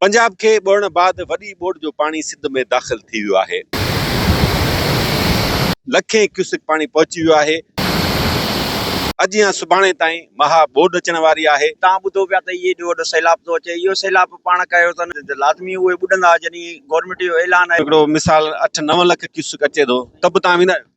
پنجاب کي ٻوڙڻ بعد وڏي ٻوڏ جو پاڻي سنڌ ۾ داخل ٿي ويو آهي. لکين ڪيوسڪ پاڻي پهچي ويو آهي. اڄ يا سڀاڻي تائين مها ٻوڏ اچڻ واري آهي. توهان ٻڌو پيا ته اهي ايڏو وڏو سيلاب ٿو اچي. اهو سيلاب پاڻ ڪيو اٿن ته لازمي اهي ٻڏندا جڏهن گورنمينٽ جو اعلان آهي. هڪڙو مثال اٺ نو لک ڪيوسڪ اچي ٿو ته به توهان ويندا آهيو.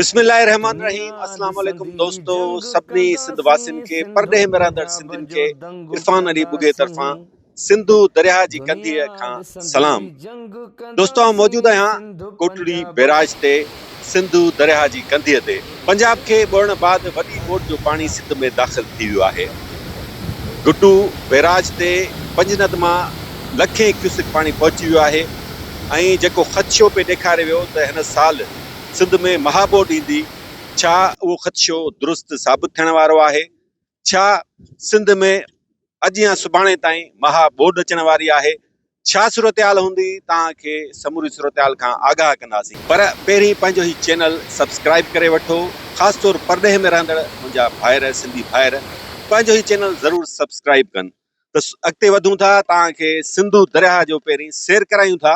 بسم الله الرحمٰن الرحيم اسلام عليڪم دوستو سڀني سنڌ واسين کي پرڏيهه ۾ رهندڙ سنڌين کي عرفان علي ٻگهي طرفان سنڌو درياهه جي ڪنڌيء کان سلام دوستو آئون موجود آهيان ڪوٽڙي بيراج تي سنڌو درياهه جي ڪنڌيء تي پنجاب کي ٻوڙڻ بعد وڏي موٽ جو پاڻي سنڌ ۾ داخل ٿي ويو آهي گٽو بيراج تي پنجند مان لکين ڪيوسڪ پاڻي پهچي ويو آهي ۽ جيڪو خدشو پئي ڏيکاري ويو ته هن سال سنڌ ۾ مها ٻوڏ ايندي، ڇا اهو خدشو درست ثابت ٿيڻ وارو آهي؟ ڇا سنڌ ۾ اڄ يا سڀاڻي تائين مها ٻوڏ اچڻ واري آهي؟ ڇا صورتحال هوندي توهان کي سموري صورتحال کان آگاهه ڪنداسين. پر پهرين پنهنجو هي چينل سبسڪرائيب ڪري وٺو خاص طور پرڏيهه ۾ رهندڙ منهنجا ڀائر سنڌي ڀائر پنهنجو هي چينل ضرور سبسڪرائيب ڪن ته اڳتي وڌون ٿا توهان کي سنڌو درياهه جو پهرين سير ڪرايون ٿا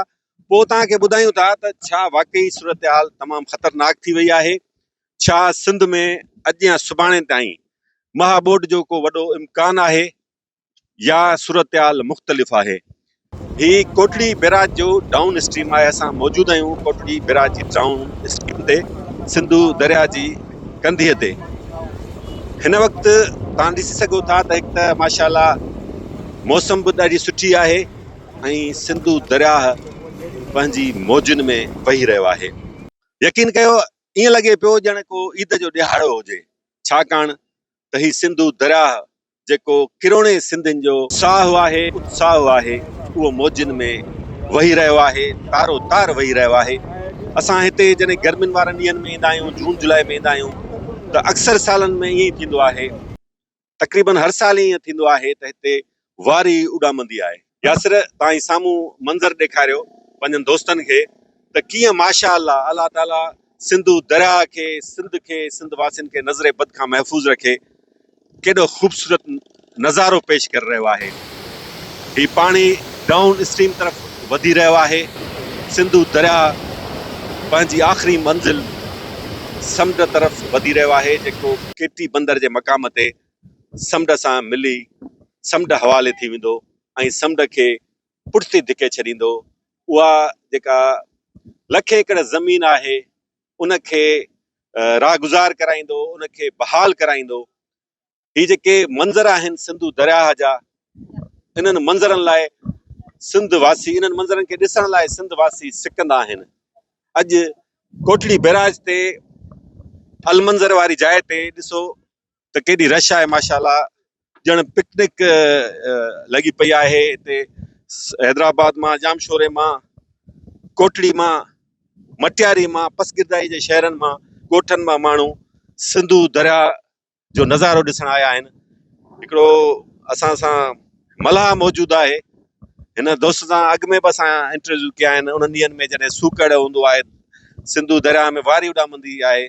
پوء توهان کي ٻڌايون ٿا ته ڇا واقعي صورتحال تمام خطرناڪ ٿي وئي آهي، ڇا سنڌ ۾ اڄ يا سڀاڻي تائين مها ٻوڏ جو ڪو وڏو امڪان آهي يا صورتحال مختلف آهي. هي ڪوٽڙي بيراج جو ڊائون اسٽريم آهي اسان موجود آهيون ڪوٽڙي بيراج جي ڊائون اسٽريم تي سنڌو درياء جي ڪنڌيء تي هن وقت توهان ڏسي سگهو ٿا ته هڪ ته ماشاءالله موسم به ڏاڍي سٺي آهي ۽ سنڌو درياهه پنهنجي موجن ۾ وهي رهيو آهي. يقين ڪيو ائين لڳي پيو ڄڻ ڪو عيد جو ڏهاڙو هجي ڇاڪاڻ ته هي سنڌو درياهه جيڪو ڪروڙين سنڌين جو ساهه آهي اتساهه آهي اهو موجن ۾ وهي رهيو آهي تارو تار وهي رهيو آهي اسان هتي جڏهن گرمين وارن ڏينهن ۾ ايندا آهيون جون جولاء ۾ ايندا آهيون ته اڪثر سالن ۾ ائين ئي ٿيندو آهي. تقريبن هر سال ائين ٿيندو آهي ته هتي واري اڏامندي آهي. ياسر تان هي سامهون منظر ڏيکاريو پنهنجن دوستن کي ته ڪيئن ماشاء الله الله تعاليٰ سنڌو درياء کي، سنڌ کي، سنڌ واسين کي نظر بد کان محفوظ رکي. ڪيڏو خوبصورت نظارو پيش ڪري رهيو آهي. هي پاڻي ڊائون اسٽريم طرف وڌي رهيو آهي. سنڌو درياهه پنهنجي آخري منزل سمنڊ طرف وڌي رهيو آهي جيڪو ڪي ٽي بندر جي مقام تي سمنڊ سان ملي سمنڊ حوالي ٿي ويندو ۽ سمنڊ کي پٺتي ڌڪي ڇڏيندو. اها جيڪا لک ايڪڙ زمين آهي ان کي راهگذار ڪرائيندو، ان کي بحال ڪرائيندو. هي جيڪي منظر آهن سنڌو درياهه جا انهن منظرن لاء سنڌ واسي انهن منظرن کي ڏسڻ لاء سنڌ واسي سڪندا آهن اڄ ڪوٽڙي بيراج تي المنظر واري جاء تي ڏسو ته ڪيڏي رش آهي ماشاءالله ڄڻ پڪنڪ لڳي پئي آهي هتي حيدرآباد مان جامشوري مان ڪوٽڙي مان مٽياري مان پسگردائي جي شهرن مان ڳوٺن مان ماڻهو سنڌو درياهه جو نظارو ڏسڻ آيا آهن هڪڙو اسان سان ملاح موجود آهي هن دوست سان اڳ ۾ به اسان انٽرويو ڪيا آهن انهن ڏينهن ۾ جڏهن سوڪڙ هوندو آهي سنڌو درياء ۾ واري اڏامندي آهي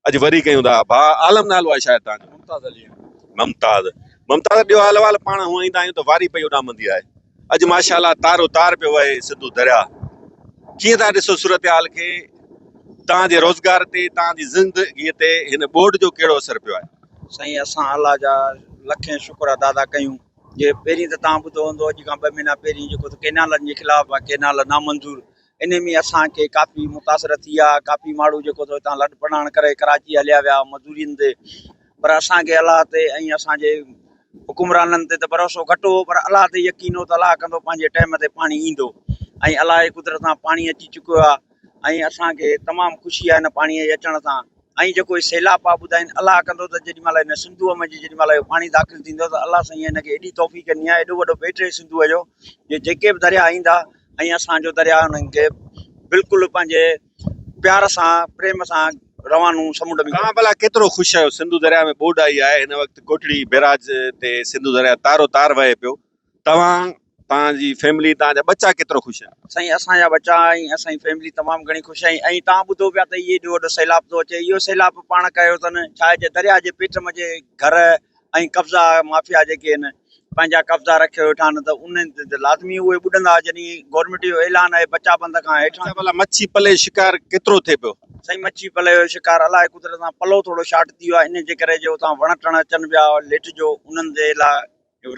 اڄ وري ڪيون ٿا ڀا عالم نالو آهي شايد تان ممتاز علي ممتاز ممتاز ڏيو حال احوال پاڻ هونئن ايندا آهيون ته واري پئي اڏامندي آهي اڄ ماشاء الله تارو تار پيو وهي سنڌو درياء ڪيئن ٿا ڏسو صورتحال کي توهان جي روزگار تي توهان جي زندگي تي هن ٻوڏ جو ڪهڙو اثر پيو آهي سائين اسان الله جا لکين شڪر ادا ٿا ڪيون جي پهرين ته توهان ٻڌو هوندو اڄ کان ٻه مهينا پهرين جيڪو ته ڪينالن جي خلاف ڪينال نامنظور انهي ۾ اسان کي ڪافي متاثر ٿي آ ڪافي ماڻهو جيڪو سو هتان لڏ پلاڻ ڪري ڪراچي هليا ويا مزورين تي پر اسان کي الله تي ۽ اسان جي حڪمرانن تي ته ڀروسو گهٽ هو پر الله تي يقين هو ته الله ڪندو پنهنجي ٽائيم تي پاڻي ايندو ۽ الله جي قدرت سان پاڻي اچي چڪو آ ۽ اسان کي تمام خوشي آ هن پاڻي جي اچڻ سان ۽ جيڪو هي سيلاب پيا ٻڌائين الله ڪندو ته جيڏي مهل هن سنڌوء ۾ جي جيڏي مهل اهو پاڻي داخل ٿيندو ته الله سائين هن کي ايڏي توفيق ڏني آهي ايڏو وڏو بيٽ اهي سنڌوء جو جو جيڪي به درياء ايندا ۽ اسان جو درياء انهن کي بلڪل پنهنجي پيار سان پريم سان روانو سمنڊ ۾ توهان ڀلا ڪيترو خوش آهيو سنڌو درياء ۾ ٻوڏ آئي آهي هن وقت ڪوٽڙي بيراج تي سنڌو درياء تارو تار وهي پيو توهان توهان جي فيملي توهان جا ٻچا ڪيترو خوش آهن. سائين اسان جا ٻچا ۽ اسان جي فيملي تمام گهڻي خوش آهي ۽ توهان ٻڌو پيا ته اهي ايڏو وڏو سيلاب ٿو اچي اهو سيلاب پاڻ ڪيو اٿن ڇا اهي درياء جي پيٽ منجهه گهر ۽ قبضا مافيا جيڪي آهن پنهنجا قبضا رکي ويٺا آهن ته انهن تي ته لازمي اهي ٻڏندا جڏهن گورنمينٽ جو اعلان آهي بچا بند کان هيٺان اچا ڀلا مڇي پلي جو شڪار ڪيترو ٿئي پيو. سائين مڇي پلي جو شڪار الاهي قدرت سان پلو ٿورو شارٽ ٿي ويو آهي انهي جي ڪري جو اتان وڻ ٽڻ اچن پيا ليٽ جو انهن جي لاء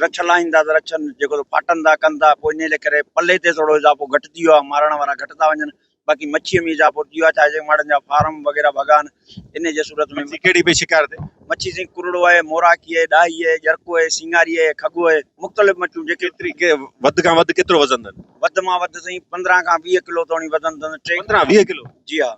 رڇ لاهيندا ته رڇن جيڪو ته ڦاٽن ٿا ڪن ٿا پوء انهيء ڪري پلي تي ٿورو اضافو گهٽ ٿي ويو آهي مارڻ وارا گهٽ ٿا وڃن باقي مڇيء ۾ اضافو ٿي ويو آهي ڇا جي ماڙن جا فارم وغيره ڀڳا آهن انهيء جي صورت ۾ مڇي ڪهڙي به شڪار تي مڇي سائين ڪرڙو آهي موراکي آهي ڏاهي آهي ڄرڪو آهي سينگاري آهي کڳو آهي مختلف مڇيون جيڪي ڪيتري ڪي وڌ کان وڌ ڪيترو وزن اٿن وڌ مان وڌ سائين پندرهن کان ويهه ڪلو توڻي وزن اٿن ٽي پندرهن ويهه ڪلو جي ها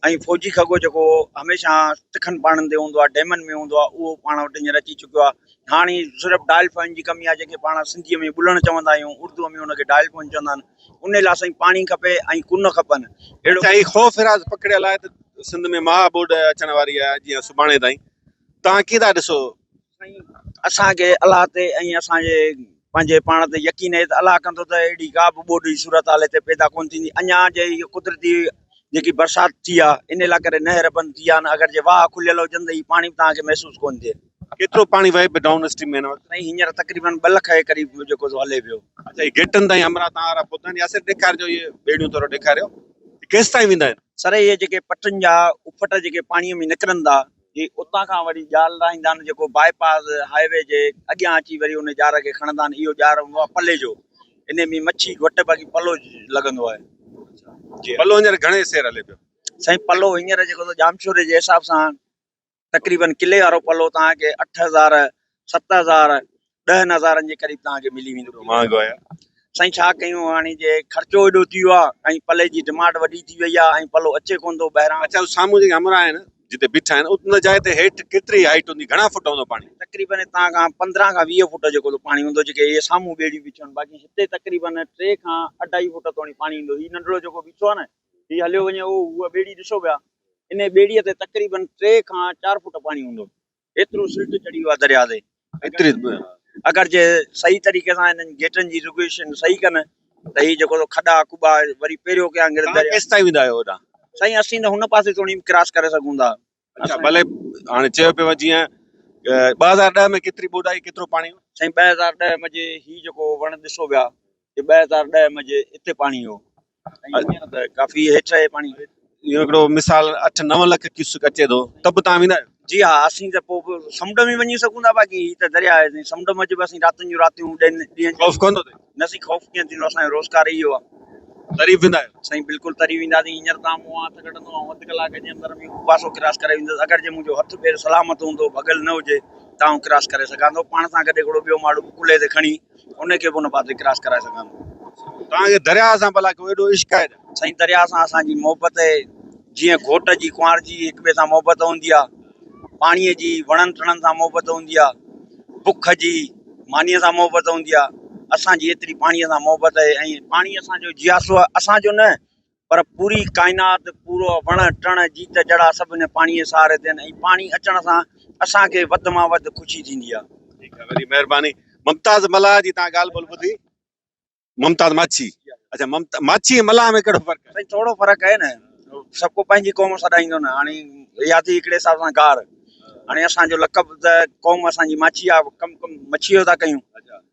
۽ فوجي کڳو جيڪو هميشه تکن پاڻن تي هوندو آهي، ڊيمن ۾ هوندو آهي، اهو پاڻ وٽ هينئر اچي چڪيو آهي. هاڻ هي صرف ڊائل فائن جي ڪمي آهي، جنهن کي پاڻ سنڌيء ۾ ٻلڻ چوندا آهيون، اردوء ۾ ان کي ڊائل فائن چوندا آهن. ان لاء سائين پاڻي کپي ۽ ڪن کپن. اهڙو. هي خوف هراس پکڙيل آهي ته سنڌ ۾ مها ٻوڏ اچڻ واري آهي، جيئن سڀاڻي تائين. توهان ڪيئن ٿا ڏسو؟ سائين اسان کي الله تي ۽ اسان جي پنهنجي پاڻ تي يقين آهي ته الله ڪندو ته اهڙي ڪا به ٻوڏ جي صورتحال هتي پيدا ڪونه ٿيندي اڃا جي هي قدرتي جيڪي برسات ٿي آهي ان لاء ڪري نهر بند ٿي آهن اگر جي واهه کليل هجن ته هي پاڻي به توهان کي محسوس ڪونه ٿئي ڪيترو پاڻي وهي پيو ڊائون اسٽريم ۾ هن وقت سائين هينئر تقريبن ٻه لک جي قريب جيڪو سو هلي پيو اچا هي گيٽن تائين همراهه توهان وارا پهتا آهن ياسر ڏيکارجو اهي ٻيڙيون ٿورو ڏيکاريو هي ڪيستائين ويندا آهن. سر اهي جيڪي پٽن جا اڦٽ جيڪي پاڻي ۾ نڪرن ٿا. جي اتان کان وري ڄار لاهيندان جيڪو باء پاس هاء وي جي اڳيان اچي وري ان ڄار کي کڻندان اهو ڄار هوندو آهي پلي جو انهي ۾ مڇي گهٽ باقي پلو لڳندو آهي جي پلو هينئر گهڻي سير هلي پيو. سائين پلو هينئر جيڪو ته ڄامشوري جي حساب سان تقريبن ڪلي وارو پلو توهان کي اٺ هزار ست هزار ڏهن هزارن جي قريب توهان کي ملي ويندو مهانگو آهي سائين ڇا ڪيون هاڻي جي خرچو ايڏو ٿي ويو آهي ۽ پلي جي ڊمانڊ وڏي ٿي وئي آهي ۽ پلو اچي ڪونه ٿو ٻاهران اچان ٿو سامهون جيڪي همراهه آهن جتي بيٺا آهن ان جاء تي هيٺ ڪيتري هائيٽ هوندي گهڻا فٽ هوندو پاڻي تقريبن هتان کان پندرهن کان ويهه فٽ جيڪو ٿو پاڻي هوندو جيڪي اهي سامهون ٻيڙيون بيٺيون آهن باقي هتي تقريبن ٽي کان اڍائي فٽ توڻي پاڻي ايندو هي ننڍڙو جيڪو بيٺو آهي نه هي هليو وڃي اهو هوء ٻيڙي ڏسو پيا انهي ٻيڙيء تي تقريبن ٽي کان چار فٽ پاڻي هوندو ايترو سلٽ چڙهيو آهي درياء تي ايتري اگر جي صحيح طريقي سان انهن گيٽن جي ريگوليشن صحيح ڪن ته هي جيڪو کڏا ڪٻا وري پهريو ڪيان گرد درياء ڪيس تائين ويندا آهيو هوڏانهن سائين اسين ته هن پاسي توڻي به ڪراس ڪري سگهون ٿا اچا ڀلي هاڻي چيو پيو وڃي جيئن ٻه هزار ڏهه ۾ ڪيتري ٻوڏ آئي ڪيترو پاڻي هو سائين ٻه هزار ڏهه ۾ جي هي جيڪو وڻ ڏسو ويا هي ٻه هزار ڏهه ۾ جي اتي پاڻي هو ڪافي هيٺ آهي پاڻي اهو هڪڙو مثال اٺ نو لک ڪيوسڪ اچي ٿو ته به تهان ويندا آهيو جي ها اسين ته پوء به سمنڊ ۾ وڃي سگهون ٿا باقي هي ته درياء آهي سمنڊ ۾ اچي به اسين راتين جون راتيون ڏينهن ڏينهن خوف ڪندو تي نه سي خوف ڪيئن ٿيندو اسان جو روزگار ئي اهو آهي تري ويندا آهيو سائين بلڪل تري وينداسين هينئر تهان مون هٿ ڪڍندو آئون اڌ ڪلاڪ جي اندر ۾ هو پاسو ڪراس ڪري ويندس اگر جي منهنجو هٿ پير سلامت هوندو ڀڳل نه هجي ته آئون ڪراس ڪري سگهان ٿو پاڻ سان گڏ هڪڙو ٻيو ماڻهو به ڪلهي تي کڻي انهي کي به ان پاسي ڪراس ڪرائي سگهان ٿو. توهان کي درياهه سان ڀلا ڪيو ايڏو عشق آهي ته. سائين درياهه سان اسان جي محبت اهي جيئن گهوٽ جي ڪنوار جي هڪ ٻئي سان محبت هوندي آهي. پاڻيء جي وڻن ٽڻن سان محبت هوندي آهي. بک جي مانيء سان محبت هوندي آهي. اسان جي ايتري پاڻيء سان محبت اهي ۽ پاڻي اسان جو جياسو آهي اسان جو نه پر پوري ڪائنات، پورو وڻ ٽڻ، جيت جڙا سڀ هن پاڻيء جي سهاري تي آهن ۽ پاڻي اچڻ سان اسان کي وڌ مان وڌ خوشي ٿيندي آهي. ٺيڪ آهي وڏي مهرباني ممتاز ملاح جي تهان ڳالهه ٻولهه ٻڌي ممتاز ماڇي اڇا ممتا ماڇي ۽ ملاح ۾ ڪهڙو فرق آهي؟ سائين ٿورو فرق آهي نه سڀ ڪو پنهنجي قوم سڏائيندو نه هاڻي اها ٿي هڪڙي حساب سان گار هاڻي اسان جو لقب ته قوم اسان جي ماڇي آهي ڪم ڪم مڇيء جو ٿا ڪيون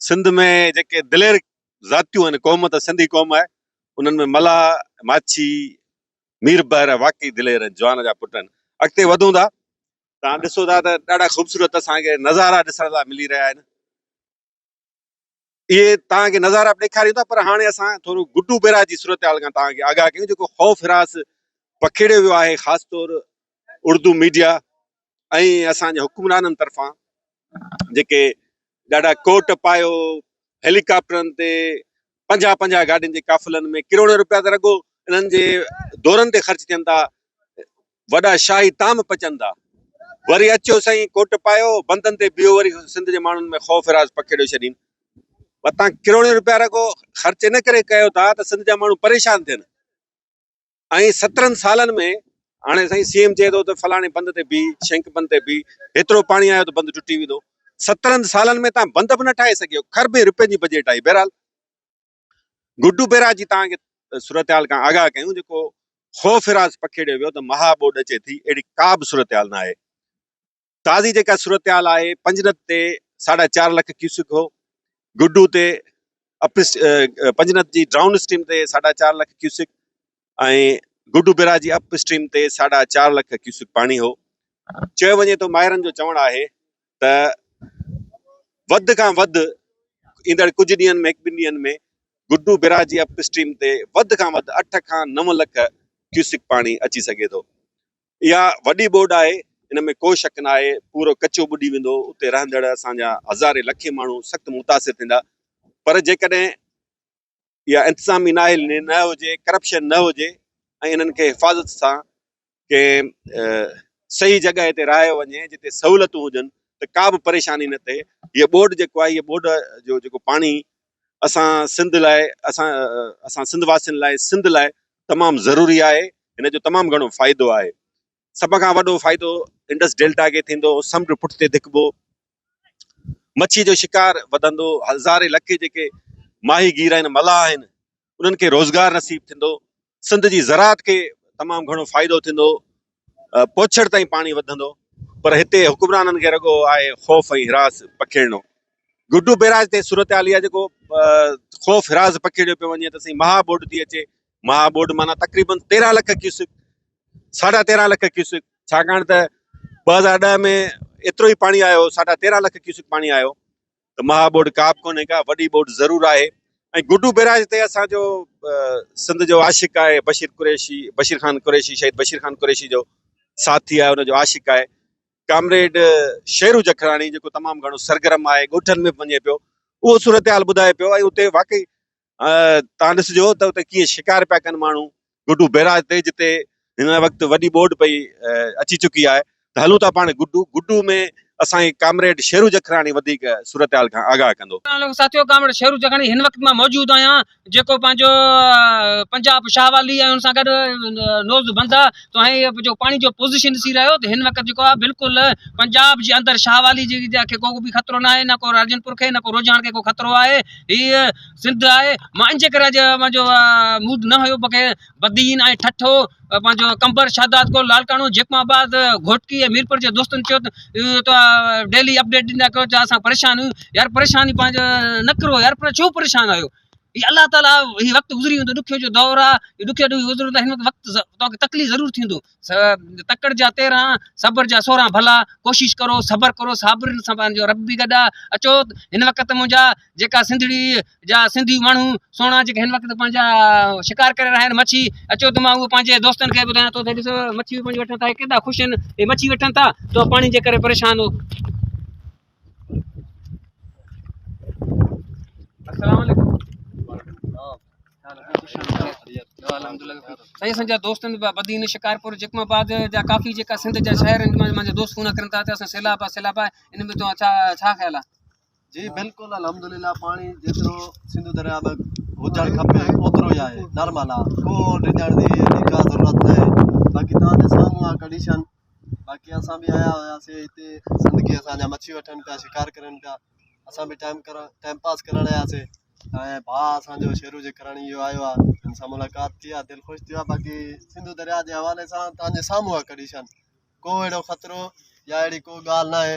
سنڌ ۾ جيڪي دلير ذاتيون آهن قوم ته سنڌي قوم آهي انهن ۾ ملاح ماڇي مير بحر واقعي دلير جوان جا پٽ آهن اڳتي وڌون ٿا تان ڏسو ٿا ته ڏاڍا خوبصورت اسان کي نظارا ڏسڻ لاء ملي رهيا آهن اهي تان کي نظارا ڏيکاريون ٿا پر هاڻي اسان ٿورو گڊو بيراج جي صورتحال کان تان کي آگاهه ڪيون جيڪو خوف هراس پکيڙيو ويو آهي خاص طور اردو ميڊيا ۽ اسان جي حڪمرانن طرفان جيڪي ڏاڍا ڪوٽ پايو هيلي ڪاپٽرن تي پنجاهه پنجاهه گاڏين جي قافلن ۾ ڪروڙين روپيا ته رڳو انهن جي دورن تي خرچ ٿين ٿا وڏا شاهي تام پچن ٿا وري اچو سائين ڪوٽ پايو بندن تي بيهو وري سنڌ جي ماڻهن ۾ خوف راز پکيڙيو ڇڏين وتان ڪروڙين روپيا رڳو خرچ ان ڪري ڪيو ٿا ته سنڌ جا ماڻهو پريشان ٿين ۽ سترهن سالن ۾ هاڻي سائين سي ايم چئي ٿو ته فلاڻي بند تي بيهه شينڪ بند تي بيهه هيترو پاڻي آيو ته بند ٽٽي ويندو سترهن سالن ۾ تان بند به نه ٺاهي سگهيو کربين رپين جي بجيٽ آئي بهرحال گڊو بيراج جي تان کي صورتحال کان آگاهه ڪيون جيڪو خوف راز پکيڙيو ويو ته مها ٻوڏ اچي ٿي اهڙي ڪا به صورتحال نه آهي تازي جيڪا صورتحال آهي پنجنت تي ساڍا چار لک ڪيوسڪ هو، گڊو تي اپس پنجنت جي ڊائون اسٽريم تي ساڍا چار لک ڪيوسڪ ۽ گڊو بيراج جي اپ اسٽريم تي ساڍا چار لک ڪيوسڪ پاڻي هو. چيو وڃي ٿو ماهرن جو چوڻ آهي ته وڌ کان وڌ ايندڙ ڪجهه ڏينهن ۾ هڪ ٻن ڏينهن ۾ گڊو بيراج جي اپ اسٽريم تي وڌ کان وڌ اٺ کان نو لک ڪيوسڪ پاڻي اچي سگهي ٿو. اها وڏي ٻوڏ آهي، ان ۾ ڪو شڪ ناهي، پورو ڪچو ٻڏي ويندو، اتي رهندڙ اسان جا هزارين لکين ماڻهو سخت متاثر ٿيندا، پر جيڪڏهن اها انتظامي نااهلي نه هجي، ڪرپشن نه هجي ۽ انهن کي حفاظت سان ڪنهن صحيح جڳهه تي رهايو وڃي، جتي سهولتون هجن ته ڪا به پريشاني نه ٿئي، هيء ٻوڏ جيڪو آهي، هيء ٻوڏ جو جيڪو پاڻي اسان سنڌ لاء، اسان اسان سنڌ واسين لاء، سنڌ لاء تمام ضروري آهي، هن جو تمام گهڻو فائدو آهي، سڀ کان وڏو فائدو انڊس ڊيلٽا کي ٿيندو، سمنڊ پٺتي ڌڪبو، مڇي جو شڪار وڌندو، هزارين لکين جيڪي ماهي گير آهن، ملاح آهن، انهن کي روزگار نصيب ٿيندو، سنڌ جي زراعت کي تمام گهڻو فائدو ٿيندو، پوڇڙ تائين پاڻي وڌندو، پر هتي حڪمرانن کي رڳو آهي خوف ۽ هراس پکيڙڻو. گڊو بيراج تي صورتحال اها جيڪو خوف هراس پکيڙيو پيو وڃي ته سائين مها ٻوڏ ٿي اچي، مها ٻوڏ معنيٰ تقريباً تيرهن لک ڪيوسڪ، ساڍا تيرهن لک ڪيوسڪ، ڇاڪاڻ ته ٻه هزار ڏهه ۾ ايترو ئي پاڻي آيو هو، ساڍا تيرهن لک ڪيوسڪ پاڻي آيو. ته مها ٻوڏ ڪا به ڪونهي ڪا وڏي ٻوڏ ضرور آهي ۽ گڊو بئراج تي اسان جو سنڌ جو عاشق آهي بشير قريشي بشير خان قريشي شهيد بشير خان قريشي جو ساٿي آهي ان جو عاشق آهي ڪامريڊ شيرو جکراڻي جيڪو تمام گهڻو سرگرم آهي ڳوٺن ۾ به وڃي پيو اهو صورتحال ٻڌائي پيو ۽ اتي واقعي تان ڏسجو ته اتي ڪيئن شڪار پيا ڪن ماڻهو، گڊو بئراج تي جتي هن وقت وڏي ٻوڏ پئي اچي چڪي آهي ته هلون ٿا پاڻ گڊو، گڊو ۾ اسان کي ڪامريڊ شيرو جکراڻي وڌيڪ صورتحال کان آگاهه ڪندو. اسلام عليڪم ساٿيو ڪامريڊ شيرو جکراڻي هن وقت مان موجود آهيان جيڪو پنهنجو پنجاب شاهه والي ۽ ان سان گڏ نوز بند آهي تو هي جو پاڻي جو پوزيشن ڏسي رهيو ته هن وقت جيڪو آهي بلڪل پنجاب جي اندر شاهه والي جي کي ڪو به خطرو ناهي نه ڪو راجن پور کي نه ڪو روجهاڻ کي ڪو خطرو آهي هي سنڌ آهي. مان انجي ڪري اڄ پنهنجو موڊ نه هيو بڪي بدين ۽ ٺٺو پنهنجو قمبر شهداد ڪو لالڪاڻو جيڪم آباد گهوٽڪي ۽ ميرپور جي دوستن چيو ته ڊيلي اپڊيٽ ڏيندا ڪيو ته اسان پريشان آهيون يار پريشاني پنهنجو نه ڪرو يار پر ڇو پريشان آهيو هي الله تعاليٰ هي وقت گذري ويندو ڏکيو جو دور آهي ڏکيو ڏکيو گذرندو هن وقت توکي تڪليف ضرور ٿيندو تڪڙ جا تيرهن، صبر جا سورهن ڀلا ڪوشش ڪرو صبر ڪرو صابرن سان پنهنجو رب به گڏ آ اچو هن وقت منهنجا جيڪا سنڌڙي جا سنڌي ماڻهو سونا جيڪا هن وقت پنهنجا شڪار ڪري رهيا آهن مڇي اچو ته مان اهو پنهنجي دوستن کي ٻڌايان ٿو ته ڏسو مڇي پنهنجي وٺن ٿا هي ڪيڏا خوش آهن هي مڇي وٺن ٿا تو پاڻي جي ڪري پريشان هو شڪارپور جيڪم آباد جا ڪافي جيڪا سنڌ جا شهر آهن منهنجا دوست فون ڪرن ٿا اسان سيلاب آهي سيلاب آهي ان ۾ ڇا خيال آهي جي بلڪل الحمد لله پاڻي جيترو سنڌ درياء ۾ هجڻ کپي اوترو ئي آهي نارمل آهي ڪو ڊڄڻ جي ڪا ضرورت ناهي باقي تنهنجي سامهون آهي ڪنڊيشن باقي اسان به آيا هياسين هتي زندگي اسان جا مڇي وٺن پيا شڪار ڪرن پيا اسان به ٽائيم ڪرڻ ٽائيم پاس ڪرڻ آياسين ۽ ڀاء اسان جو شيرو جي ڪراڻي اهو آيو آهي هن سان ملاقات ٿي آهي دل خوش ٿيو آهي باقي سنڌو درياء جي حوالي سان تهنجي سامهون آهي ڪنڊيشن ڪو اهڙو خطرو يا اهڙي ڪو ڳالهه ناهي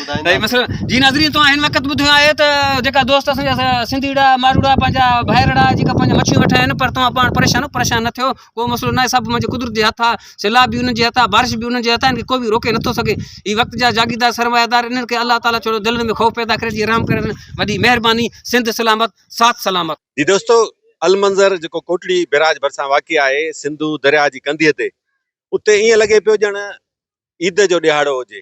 جي ناظرين توهان هن وقت ٻڌيو آهي ته جيڪا دوست اسان جا سنڌيڙا ماروڙا پنهنجا ڀائرڙا جيڪا پنهنجا مڇيون ويٺا آهن پر توهان پاڻ پريشان پريشان نه ٿيو ڪو مسئلو ناهي سڀ منهنجي قدرت جي هٿ آهي سيلاب به انهن جي هٿ آهي بارش به انهن جي هٿ آهي ان کي ڪو به روڪي نٿو سگهي هي وقت جا جاگيردار سرمايدار انهن کي الله تعالیٰ ڇوڙو دلن ۾ خوف پيدا ڪري جي رحم ڪري وڏي مهرباني سنڌ سلامت ساٿ سلامت جي دوستو المنظر جيڪو ڪوٽڙي بيراج ڀرسان واقع آهي سنڌو درياء جي ڪنڌيء تي اتي ائين لڳي پيو ڄڻ عيد جو ڏهاڙو هجي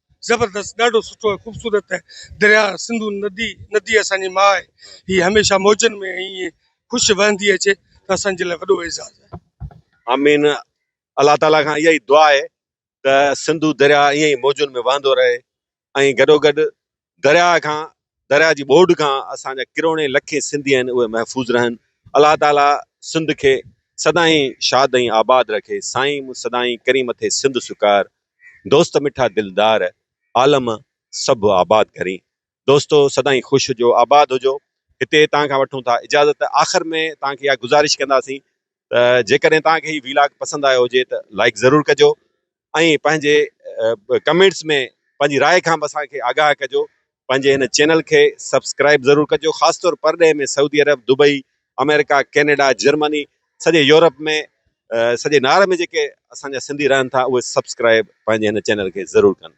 زبردست ڏاڍو سٺو ۽ خوبصورت ۽ درياء سنڌو ندي ندي اسان جي ماء آهي هي هميشه موجن ۾ ائين خوش وهندي اچي ته اسان جي لاء وڏو اعزاز آهي آمين الله تعالي کان اها ئي دعا آهي ته سنڌو درياء ائين ئي موجن ۾ وهندو رهي ۽ گڏوگڏ درياء کان درياء جي ٻوڏ کان اسان جا ڪروڙين لکين سنڌي آهن اهي محفوظ رهن الله تعالي سنڌ کي سدائين شاد ۽ آباد رکي سائين مون سدائين ڪريم ٿي سنڌ سڪار دوست مٺا دلدار عالم سڀ آباد ڪرين دوستو سدائين خوش هجو آباد هجو هتي توهان کان وٺون ٿا اجازت آخر ۾ توهان کي اها گذارش ڪنداسين ته جيڪڏهن توهان کي هي ويلاگ پسند آيو هجي ته لائڪ ضرور ڪجو ۽ پنهنجي ڪمينٽس ۾ پنهنجي راء کان به اسان کي آگاهه ڪجو پنهنجي هن چينل کي سبسڪرائب ضرور ڪجو خاص طور پرڏيهه ۾ سعودي عرب دبئي آمريڪا ڪينيڊا جرمني سڄي يورپ ۾ سڄي نار ۾ جيڪي اسان جا سنڌي رهن ٿا اهي سبسڪرائب پنهنجي هن چينل کي ضرور ڪن.